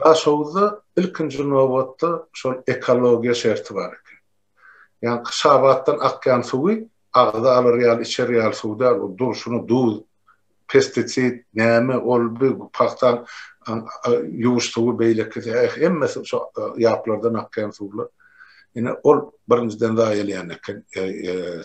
Daşoguzda ilkinji nobatda şol ekologiýa şerti bar eken. Ýaňky şabatdan akýan suwy agza alar ýaly içer ýaly suw däl, ol durşuna duz, pestisid, näme, ol bu pagtaň ýuwuş suwy beýlekisi, eh, hemmesi şo ýaplardan akýan suwlar. Ine, ol birinjiden zaýalaýan eken.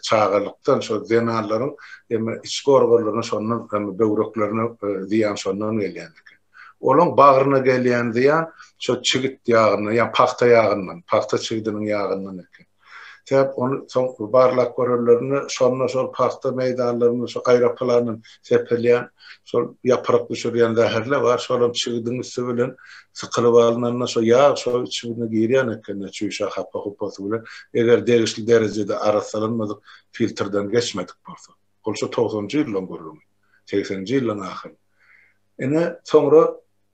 Çagalykdan şo zenanlaryň eme içki organlaryna şondan eme böwreklerine zyýan şondan gelýän eken. Olaň bagryna gelýän zyýan şo çigit ýagyndan, ýa pagta ýagyndan, pagta çigidiniň ýagyndan eken. Sebäp ony soň barlap görenlerinde şonda şol pagta meýdanlarynda şo aýroplandan serpelýän şol ýapyrak düşürýän zäherle bar, şolam çigidiň üsti bilen sykylyp alnanda şo ýag şo çigine girýän ekeni çüýşä hapa-hupasy bilen, eger degişli derejede arassalanmadyk filtrden geçmedik bolsa. Ol şu togsanjy ýyllaň gürrüňi, segseninji ýyllaň ahyry. Ine, soňra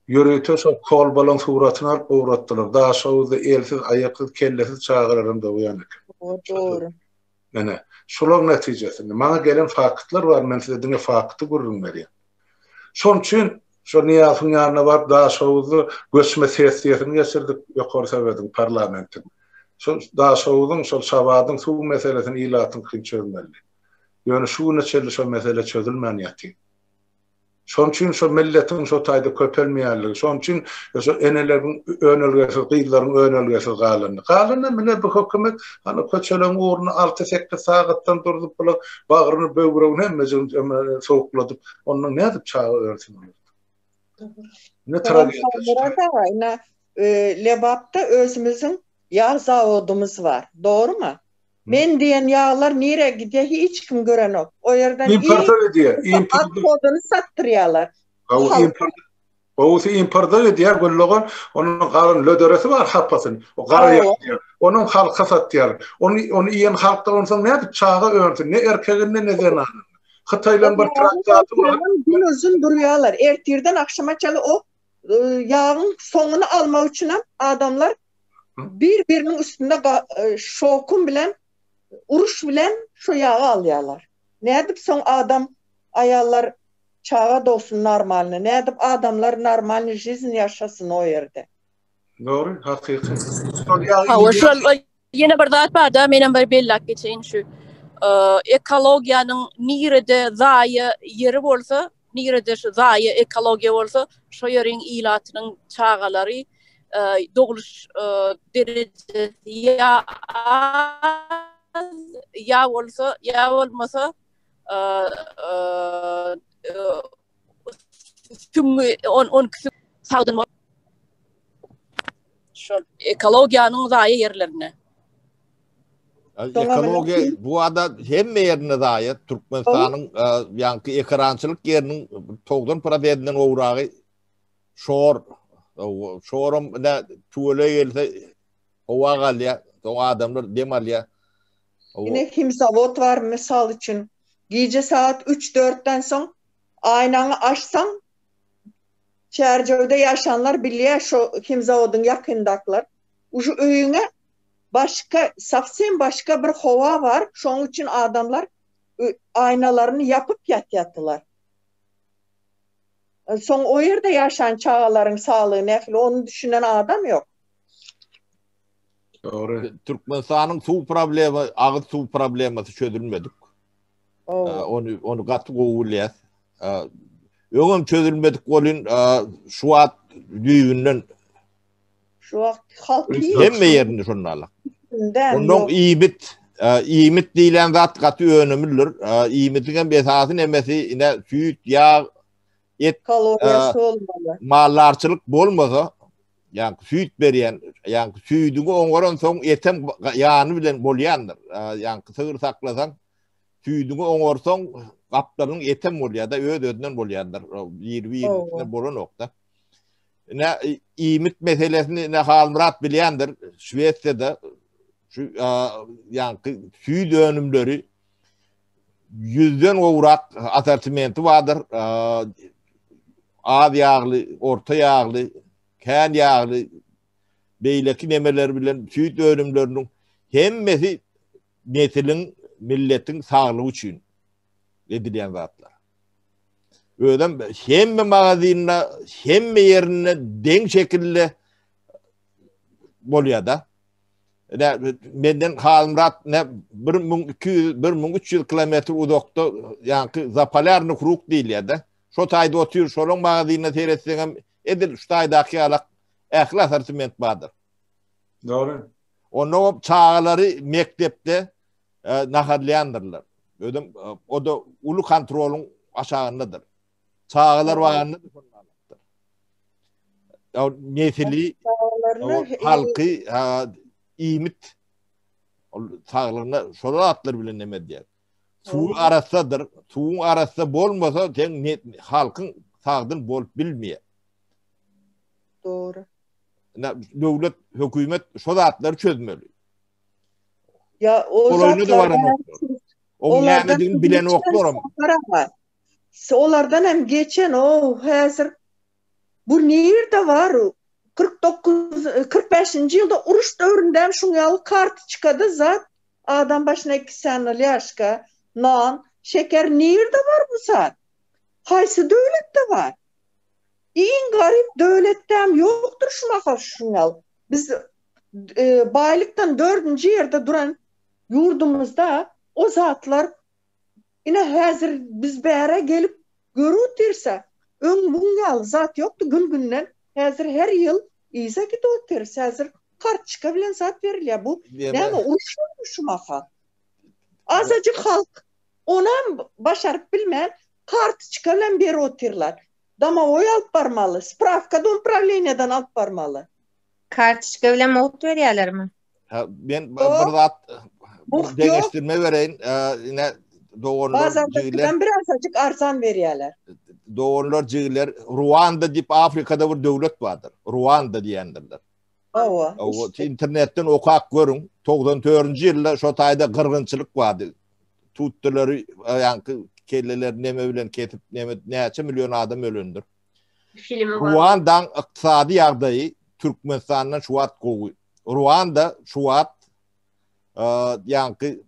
ýörite şol kolbalaň suratyny alyp ugratdylar. Daşoguzda elsiz, aýaksyz, kellesiz çagalar hem dogýan eken. Dogry. Menä, şolaryň netijesinde, maňa gelen faktlar bar, men size diňe fakty gürrüň berýän. Şonuň üçin şo Nyýazowyň ýanyna baryp, Daşoguzda göçme sessiýasyny geçirdik, Ýokary Sowetiň parlamentiň. Şu Daşoguzyň, şol Şabadyň suw meselesini ilatyňkyny çözmelidi. Ýöne şu güne çenli şo mesele çözülmän ýatyr. Şonuň üçin şo milletiň şo taýda köpelmeýänligi, şonuň üçin şo eneleriň önelgesiz, gyzlaryň önelgesiz galandygy. Galanam ine bu hökümet hany köçeleň ugruna alty-sekiz sagatdan durzup bulaň bagryny, böwregini hemmejigini eme sowukladyp, ondan nädip çaga örsin olar? Ine tragediýa şu taýda. Ine Lebapda özümiziň ýag zawodymyz bar. Dogrumy? Men diýen ýaglar nirä gidýä hiç kim görenok. O ýerden Importa gidýä. Import koduny satdyrýalar. Gowusy importa gidýä Güldogan onuň galan löderesi bar hapasyny. O gara ýaşýa. Onuň halka satýar. Ony ony iýen halkda onsoň nädip çaga önsün ne erkeginde ne zenanynda. Hytaýlaryň bir traktaty bar. Gün uzyn durýalar. Ertirden agşama çenli o Ýagyň soňuny almak üçinem adamlar bir biriniň üstünde şokun bilen uruş bilen şo ýagy alýarlar. Nädip soň adam aýallar çaga dogsun normalny nädip adamlar normalny žizn ýaşasyn o ýerde. Dogry hakyky. Şol ýagy. Hawa şonda Ýene bir zat barda, menem bir belläp geçeýin şu ekologiýanyň nirede zaýa ýeri bolsa, nirede şu zaýa ekologiýa bolsa, şo ýeriň ilatynyň çagalary dogluş derejesi ýa az, ýa bolsa, ýa bolmasa Süňňi on on kisi sagdyn bol. Şol ekologiýanyň zaýa ýerlerine. Ekologiýa bu ada hemme ýerinde zaýa. Türkmenistanyň ýaňky ekerançylyk ýeriniň 90 prosentinden gowragy şor. Şorum ine tüwele gelse howa galýar. Soň adamlar dem alýar. Ine himzawod bar mysal üçin gije sagat üç dörtden soň aýnaňy açsaň Çärjewde ýaşanlar bilýär şo himzawodyň ýakyndakylar uju öýüňe başga sowsem başga bir howa bar şoň üçin adamlar aýnalaryny ýapyp ýatýatylar. Soň o ýerde ýaşan çagalaryň saglygy nähili ony düşünen adam ýok. Dogry. Türkmenistanyň suw problemi, agyz suw problemasy çözülmedik. Onu onu gaty gowy bilýär. Öňem çözülmedik bolun şu wagt düýbünden şu wagt halk hemme ýerini şondalar. Ondan iýmit, iýmit diýlen zat gaty önümlidir. Iýmitiň hem esasy nemesi ine süýt, ýag, et kaloriýasy bolmaly. Maldarçylyk bolmasa, ýa süýt berýän, ýa süýdi oňaran soň etem ýany bilen bolýandyr. Ýa sygyr saklasaň, süýdi oňarsaň gaplaryň etem bolýar-da, öz-özünden bolýandyr. Bir-birine bolan nokta. Ne iýmit meselesini ne Halmyrat bilýändir. Şwesiýada şu ýa süýt önümleri 100-den gowrak assortimenti bardyr. Az ýagly, orta ýagly, kän ýagly beýleki nemeler bilen süýt önümleriniň hemmesi nesiliň, milletiň saglygy üçin edilýän zatlar. Özem hemme magazynda, hemme ýerinde deň şekilde bolýar-da. menden Halmyrat ne 1200 1300 kilometr uzakda ýaňky Zapolýarny kruk diýilýärdi. Şo taýda otyr, şolaryň magazynyna seretseň hem edil şu taýdaky ýaly ähli assortiment bardyr. Dogry. Onda o çagalary mekdepde e, naharlaýandyrlar. Özüm e, o da uly kontrolyň aşagyndadyr. Çagalar bagynda diplomlamakdyr. Ýa nesili, halky, iýmit ol saglygyna şol atlar bilen näme diýer. Suw arassadyr. Suwuň arassa bolmasa, sen halkyň sagdyn bolup bilmeýär. Dogry. Döwlet, hökümet şo zatlary çözmeli. Ýa o zatlar. Oňa bilen oklarym. Şolardan hem geçen ow häzir bu nirde bar u kyrk dokuz kyrk bäşinji ýylda uruş döwründäm şuň ýaly kartiçkada zat adam başyna iki sany lýaşka non şeker nirde bar bu zat haýsy döwletde bar iň garyp döwletdäm ýokdur şu mahal şuň ýaly biz baýlykdan dördünji ýerde duran ýurdumyzda o zatlar Ine, häzir biz bäre gelip görüp otursas, öň muň ýaly zat ýokdy, gün-günden häzir her ýyl yza gidip otyrys. Häzir kartoçka bilen zat berilýär. Bu näme, uruşýarmy şu mahal? Azajyk halk onam başaryp bilmän, kartoçka bilen berip otyrlar. Domowoý alyp barmaly, sprawka domprawleniýadan alyp barmaly. Kartoçka bilen mugt berýärlermi? Men bir zat deňeşdirme bereýin. Ine doganlar jigler. Birazajyk arsan berýärler. Doganlar jigler Ruanda diýip Afrikada bir döwlet bardyr. Ruanda diýendirler. Owa. Owa internetden okap görüň. 94-nji ýylda şo taýda gyrgynçylyk bardy. Tutlylary ýaňky kelleleri neme bilen kesip neme näçe million adam ölendir. Ruandaň ykdysady ýagdaýy Türkmenistandan şu wagt gowy. Ruanda şu wagt ýaňky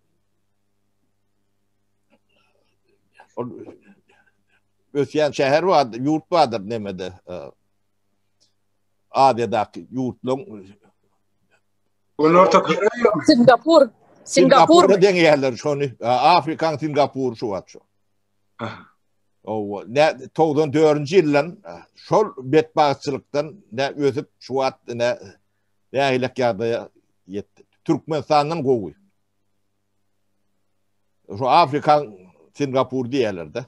ösýän şäher bardyr, ýurt bardyr nemede. Aziýadaky ýurtlaryň Günorta Koreýa, Singapur, Singapur deňýärler şony. Afrikaň Singapur şu wagt şu. Aha. Owa, ne 94-nji ýyldan şol betbagtçylykdan ne ösüp şu wagt ne nähilek ýagdaýa ýetdi. Türkmenistandan gowy. Şu Afrika Singapur diýerlerde.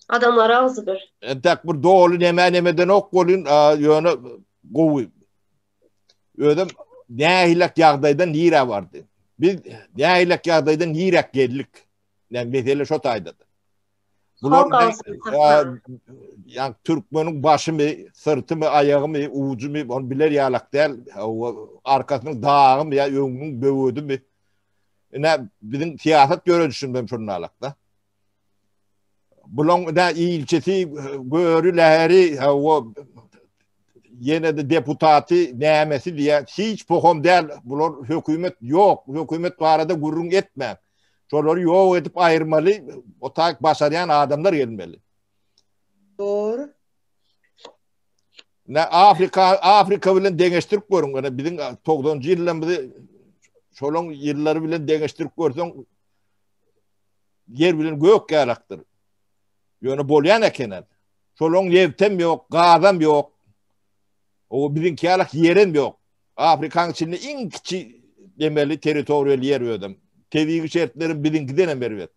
Adamlar agzy bir. Entek bir doly näme nämeden ok bolun, ýöne gowy. Özüm nähilek ýagdaýdan nirä bardy. Biz nähilek ýagdaýdan nirä geldik. Yani mesele şo taýdadyr. Bular yani Türkmeniň başymy, syrtymy, aýagymy, ujumy, onu biler ýalak däl, arkasynyň dagymy ýa öňüniň böwedimi. Ine biziň syýasat ýöredişimizden şundan alakda. Bulaň da ilçisi göri läri o ýene de deputaty nämesi diýä hiç pohom däl. Bular hökümet ýok, hökümet barada gürrüň etmän. Şolary ýok edip aýyrmaly, o tak başarýan adamlar gelmeli. Dor. Ne Afrika Afrika bilen deňeşdirip görüň. Ana biziň 90-njy ýyllarymyzy şolaň ýyllary bilen deňeşdirip görseň ýer bilen gök ýarakdyr. Ýöne bolýan ekenen. Şolaň ýewtem ýok, gazam ýok. O biziň ýalak ýerem ýok. Afrikanyň içinde iň kiçi demeli territoriýal ýer özem. Tebigy şertleri biziňkiden hem erbet.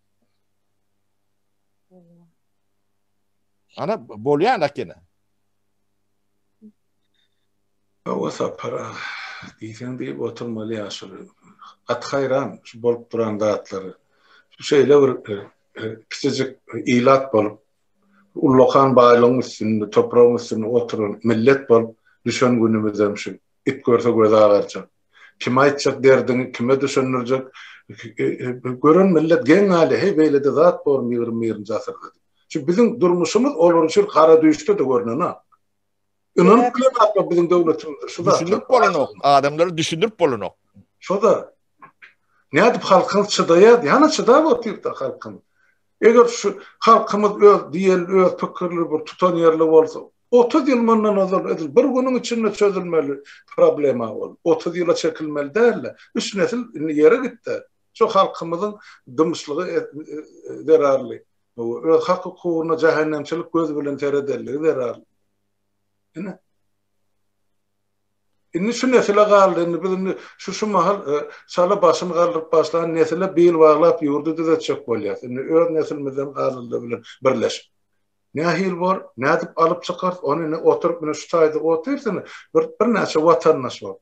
Ana bolýan akene. Hawa sapar. Diýseň diýip oturmaly ýaşyl. At haýran şu bolup duran zatlary. Şu şeýle bir e, e, kiçijik ilat bolup Ullakan baýlygyň üstünde, topragyň üstünde oturan millet bolup düşen günümizem şu. It görse gözi agarjak. Kime aýtjak derdiňi, kime düşündirjek? Gören millet geň galýar, heý beýlede zat bormy ýigrimi birinji asyrda diýip. Şu biziň durmuşymyz olar üçin gara düýşde-de görnenok. Ynanyp bilen atma biziň döwletimizde. Şu da. Düşündürip bolanok. Adamlara düşündürip bolanok. Şu da. Ne edip halkyn çıdayad. Yana çıdayad o tipte halkyn. Eger şu halkymız öz diyen, öz fikirli bir tutan yerli olsa. 30 yıl mundan ozal edil. Bir günün içinde çözülmeli problema ol. 30 yıla çekilmeli değil de. Üç nesil indi yere gitti. Şu halkymızın dımşlığı e, e, zerarlı. Öz hak hukukuna cehennemçilik göz bilen seredelliği zerarlı. Indi Indi şu nesile galdy, indi biz indi şu şu mahal e, şala başyny galdyryp başlan nesile bil baglap ýurdy düzetjek bolýar. Indi öz nesilimizden galdylar bilen birleşip. Nähil bor, nädip alyp çykar, ony ne oturup, ne şu taýda otursun, bir, bir näçe vatandaş bor.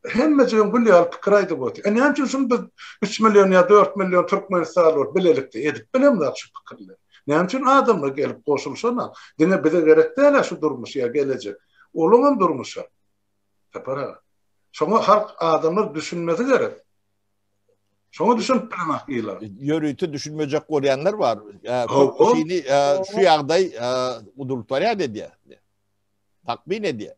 Hemme jigim gül ýaly pikir aýdyp otyr. E näme üçin şuny biz üç million ýa dört million türkmenistanly bolup bilelikde edip bilemzok şu pikirleri. Näme üçin adamlar gelip goşulşanok. Diňe bize gerek däl-ä şu durmuş ýa gelejek. Olaňam durmuşa. Sapar aga. Şoňa halk adamlar düşünmesi gerek. Şoňa düşünip bilenok ýyla. Ýörite düşünmejek bolýanlar bar. Köpüsini şu ýagdaý gudurtýar edýär. Takmyn edýär.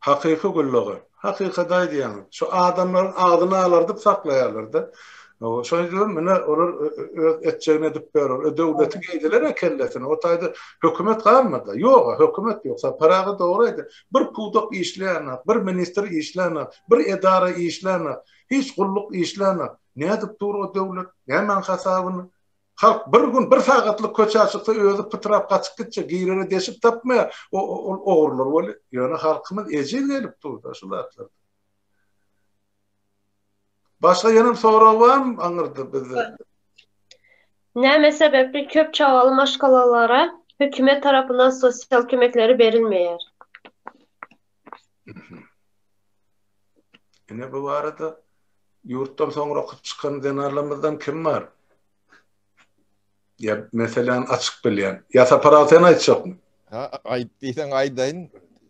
Hakyky gullugy. Hakykaty aýdýaňyz. Şu adamlaryň agzyny alardyp saklaýarlar-da. Şonuň üçinem menä olar öz etjegini edip berer. Döwleti geýdiler-ä kellesine. O taýda hökümet galmady. Ýog-a, hökümet ýok. Sapar aga dogry aýdýar. Bir pudak işleýänak, bir ministr işlänak, bir edara işlänak, hiç gulluk işlänak. Nädip dur o döwlet? Nämäň hasabyna? Halk bir gün bir sagatlyk köçä çyksa özi pytrap gaçyp gitjek girere deşik tapmaýar ol ogrular weli ýöne halkymyz ejiz gelip durda şu zatlar. Başga ýenem sorag barmy aňyrda bizde? Näme sebäpli köp çagaly maşgalalara hökümet tarapyndan sosial kömekleri berilmeýär? Ine bu barada ýurtdan soňra çykan zenanlarymyzdan kim bar? Ya meselem açyk bilýän. Ya sapar al sen aýtjakmy? Ha aýt diýseň aýdaýyn.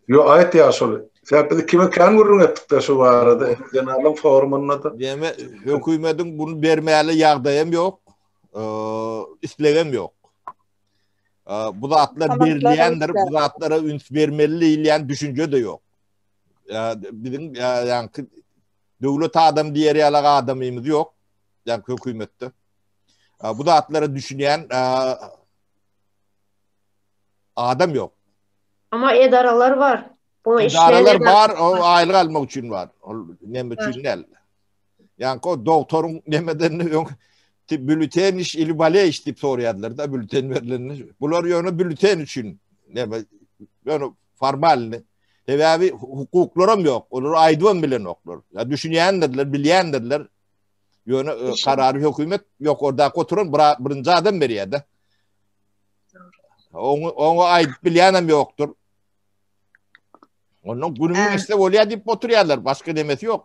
Yo aýt ya şol. Sebäp biz kime kän gürrüň etdikde şu barada zenanlaryň forumynda da. Deme hökümetiň bunu bermäli ýagdaýam ýok. Ee, islegem ýok. bu zatlar berilýändir, bu zatlara üns bermeli diýilýän düşünje de ýok. Biziň ýaňky döwlet adam diýer ýaly adamymyz ýok. Ýaňky hökümetde. Bu zatlara düşünýän adam ýok. Amma edaralar bar. Bu işler edaralar bar, o aýlyk almak üçin bar. Ol näme üçin näl? Ýaňky o dogtoryň nemedenini öň bülten iş ili bale iş diýip soraýardylar da bülten berlende. Bular ýöne bülten üçin neme ýöne formalny sebäbi hukuklaram ýok. Olar aýdybam bilenoklar. Ya düşünýändirler, bilýändirler. Ýöne e, karary hökümet ýokardaky oturan birinji adam berýär-de. Oňa oňa aýdyp bilýänem ýokdur. Ondan günümi Ä. geçse bolýar diýip oturýarlar, başga demesi ýok.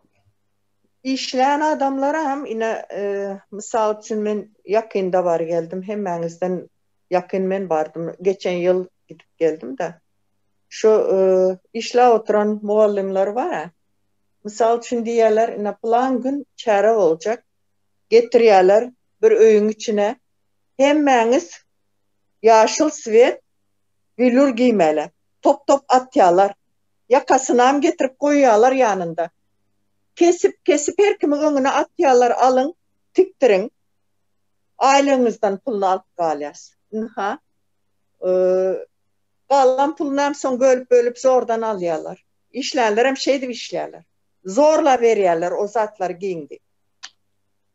Işlän adamlara hem ine, e, mysal üçin men ýakynda bary geldim, hemmäňizden ýakyn men bardym, geçen ýyl gidip geldim-de. Şu, e, işläp oturan mugallymlar bar-a, mysal üçin diýýärler, ine, pylan gün çäre boljak, getirýärler bir öýüň içine, hemmäňiz ýaşyl swet, welur geýmeli. Top-top atýalar. Ýakasynam getirip goýýalar ýanynda. Kesip, kesip her kimiň öňüne atýalar, alyň, tikdiriň. Aýlygyňyzdan puluny alyp galýas. Ynha, galan pulunam soň bölüp-bölüp zordan alýalar. Işlänlerem şeýdip işlýäler. Zorla berýäler o zatlary giň diýip.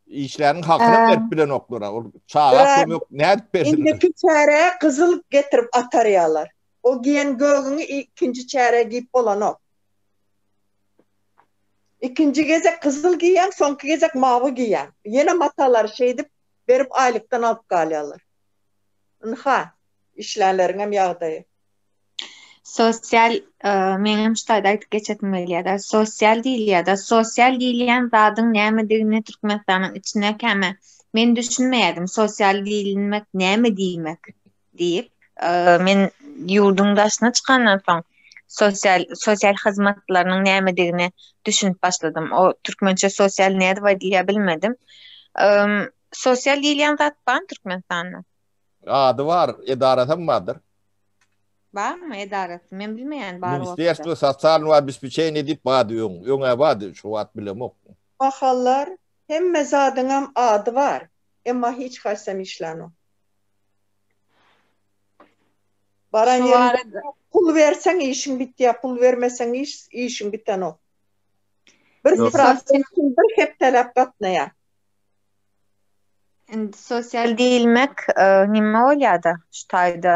Işläniniň hakynam berip bilenoklar-a. Ol çaga kömek nädip bersinler? Indiki çärä gyzyl getirip atarýalar. O giýen gögüňi ikinji çärä giýip bolanok. Ikinji gezek gyzyl giýýäň, soňky gezek mawy giýýäň. Ýene matalary şeýdip berip aýlykdan alyp galýarlar. Ynha, işlänleriňem ýagdaýy. Sosial, meňem şu taýda aýdyp geçesim gelýär-de, sosial diýilýär-de, sosial diýilýän zadyň nämedigini Türkmenistanyň içine käme men düşünmeýärdim, sosial diýilmek näme diýmek? Diýip, men ýurduň daşyna çykandan soň, sosial sosial hyzmatlarynyň nämedigine düşünip başladym. O türkmençe sosial nädip aýdylýar bilmedim. Sosial diýilýän zat barmy Türkmenistanda? Ady bar, edarasy hem bardyr. Barmy edarasy? Men bilmeýän bar bolsa. Ministerstwo sosialnowa obespeçeniýa diýip bardy öň. Öň-ä bardy, şu wagt bilemok. Mahallar hemme zadyňam ady bar, emma hiç haýsam işlänok. Baran ýeriňde pul berseň işiň bitýär, pul bermeseň iş, işiň bitenok. Bir sprowaýder üçin bir hepdeläp gatnaýar. Indi sosial diýilmek nime bolýar-da şu taýda?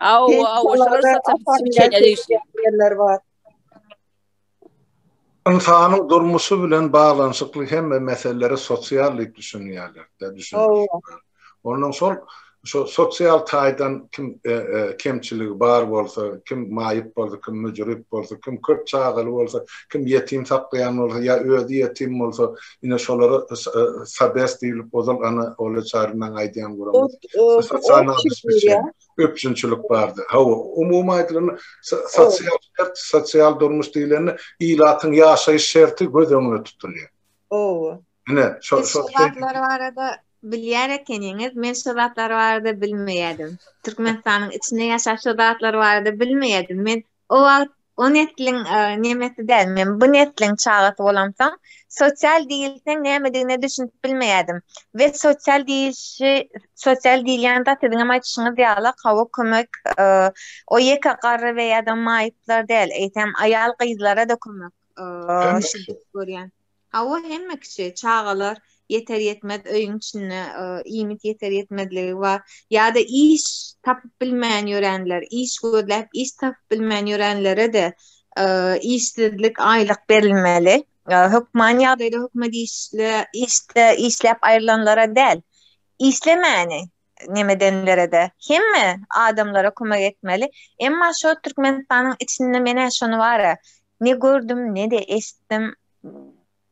Awa, awa, şolar satyp çeýe diýsin. Ynsanyň durmuşy bilen baglanyşykly hemme meselelere sosial diýip düşünýärler-de, düşündirişipler. Ondan soň şo sosial taýdan kim kemçiligi bar bolsa, kim maýyp bolsa, kim müjrüp bolsa, kim köp çagaly bolsa, kim ýetim saklaýan bolsa ýa özi ýetim bolsa, Ine şolara sabes diýilip ozal Ana Ola Çarynyň aýdýan gürrüňi. Sosial abespeçeniýe, üpjünçilik bardy. Hawa, umumy aýdylanda sosial şert, sosial durmuş diýlende ilatyň ýaşaýyş şerti göz öňünde tutulýar. Hawa. Ine şo şo zatlar barada bilýär ekeniňiz. Men şo zatlar barada bilmeýärdim. Türkmenistanyň içinde ýaşap şo zatlar barada bilmeýärdim. Men O wagt o nesliň nemesi däl, men bu nesliň çagasy bolamsoň, sosial diýilseň nämedigine düşünip bilmeýärdim we sosial diýilişi, sosial diýilýän zat siziňem aýdyşyňyz ýaly hawa kömek, o ýeke garry we ýa-da maýyplar däl, eýsem aýal-gyzlara-da kömek, şiddet görýän. Hawa hemme kişi, çagalar ýeter ýetmez öýüň içinde iýmit ýeter ýetmezligi bar, ýa-da iş tapyp bilmän ýörenler, iş gözläp iş tapyp bilmän ýörenlere-de işsizlik aýlyk berilmeli, hökman ýagdaýda hökümet işde işläp aýrylanlara däl, işlemäni nemedenlerede hemme adamlara kömek etmeli emma şo Türkmenistanyň içinde menä şony bara ne gördüm nede eşitdim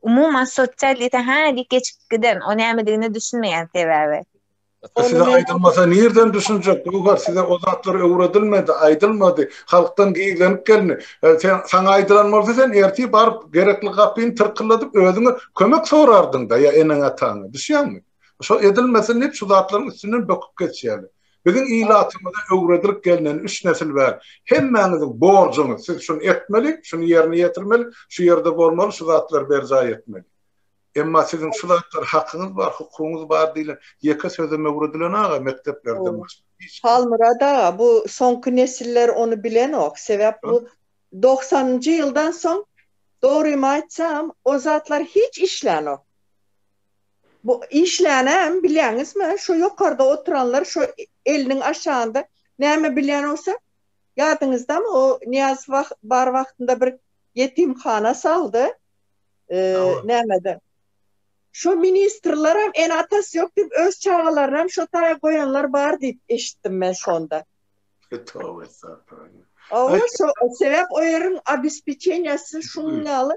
umuman sosialite hä diýip geçip giden o nämedigine düşünmeýän sebäbi. Size aýdylmasa nirden düşünjek Göwher size o zatlar öwredilmedi aýdylmady halkdan gizlenip gelindi sen saňa aýdylan bolsa sen ertir baryp gerekli gapyny tyrkylladyp özüňe kömek sorardyňda ýa eneň ataňa düşýäňmi. Şo edilmesin diýip şu zatlaryň üstünden böküp geçýäler. Biziň ilatymyza öwredilip gelneni üç nesil bäri hemmäňiziň borjuňyz siz şuny etmeli, şuny ýerine ýetirmeli, şu ýerde bolmaly, şu zatlary berjaý etmeli. Emma siziň şu zatlara hakyňyz bar, hukugyňyz bar diýlen ýeke sözem öwredilen aga mekdeplerden başga hiç kim. Halmyrat aga bu soňky nesiller ony bilenok. Sebäp bu dogsanynjy ýyldan soň dogrymy aýtsam o zatlar hiç işlänok. Bu işlänäm bilýäňizmi, şo ýokarda oturanlar şo eliniň aşagynda näme bilýän bolsa, ýadyňyzdamy o Nyýaz bar wagtynda bir ýetimhana saldy, nämede. Şo ministrlerem ene-atasy ýok diýip öz çagalaryny şo taýa goýanlar bar diýip eşitdim men şonda. Toba estagfirullah. Owa şo sebäp o ýeriň obespeçeniýasy şunuň ýaly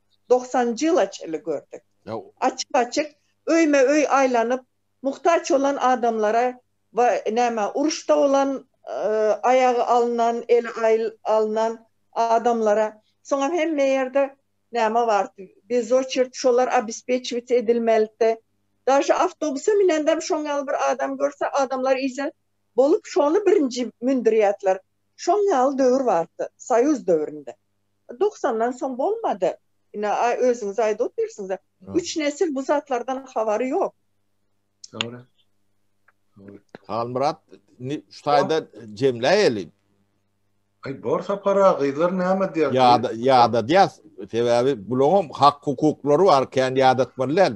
Dogsan jilaç ili gördük. Açyk-açyk öýme-öý aýlanyp, muhtaç bolan adamlara we näme, uruşda bolan, aýagy alnan, eli alnan adamlara, soňam hemme ýerde näme bardy, bezoçert şolar obespečiwit edilmelidi. Daže awtobusa minendem şoň ýaly bir adam görse, adamlar iýjek bolup, şony birinji mündürýärdiler. Şoň ýaly döwür bardy, soýuz döwründe. Doksandan soň bolmady. Ine, özüňiz aýdyp otyrsyňyz-a. Üç nesil bu zatlardan habary ýok. Dogry. Halmyrat, indi şu taýda jemläýeli. Aý, bor sapara, gyzlar näme diýer? Ýada, ýadadýas. Sebäbi bulaňam hak-hukuklary bar, kän ýadatmaly däl.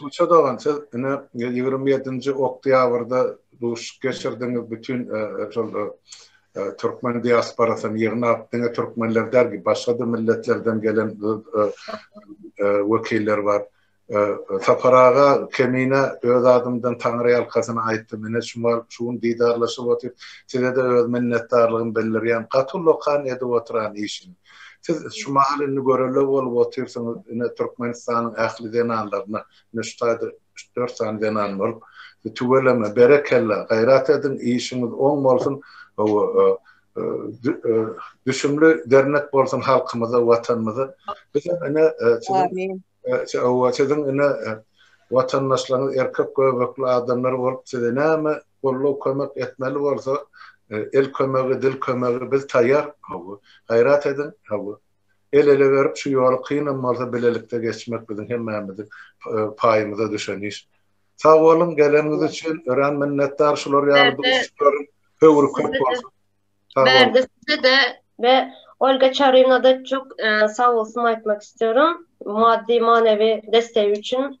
Tuça dogan siz ine ýigrimi ýedinji oktýabrda duşuşyk geçirdiňiz bütin şol türkmen diasporasyny ýygnap diňe türkmenler däl ki başgada milletlerden gelen wekiller bar. Sapar aga Kemine öz adymdan taňryýalkasyn aýtdym ine şu wagt şu gün didarlaşyp otyr sizede öz minnetdarlygymy bildirýän gaty lokan edip otyran işiňiz. Siz şu mahal indi görerler bolup otyrsyňyz, ine, Türkmenistanyň ähli zenanlaryna, ine, şu taýda üç-dört sany zenan bolup, tüweleme, berekella, gaýrat ediň, işiňiz oň bolsun, hawa, düşümli dernek bolsun halkymyza, Watanymyza. Bizem, ine, siziň, hawa, siziň, ine, watandaşlaryňyz erkek göbekli adamlar bolup, size näme Gollow kömek etmeli bolsa el kömegi dil kömegi biz taýýar hawa gaýrat ediň hawa el ele berip şu ýoly kynam bolsa bilelikde geçmek biziň hemmämiziň paýymyza düşen iş sag boluň geleniňiz üçin örän minnetdar şular ýaly duşuşyklaryň höwri köp bolsun Bärde sizede we Olga Çarinada çok e, sağ olsun aytmak istiyorum. Maddi manevi desteği için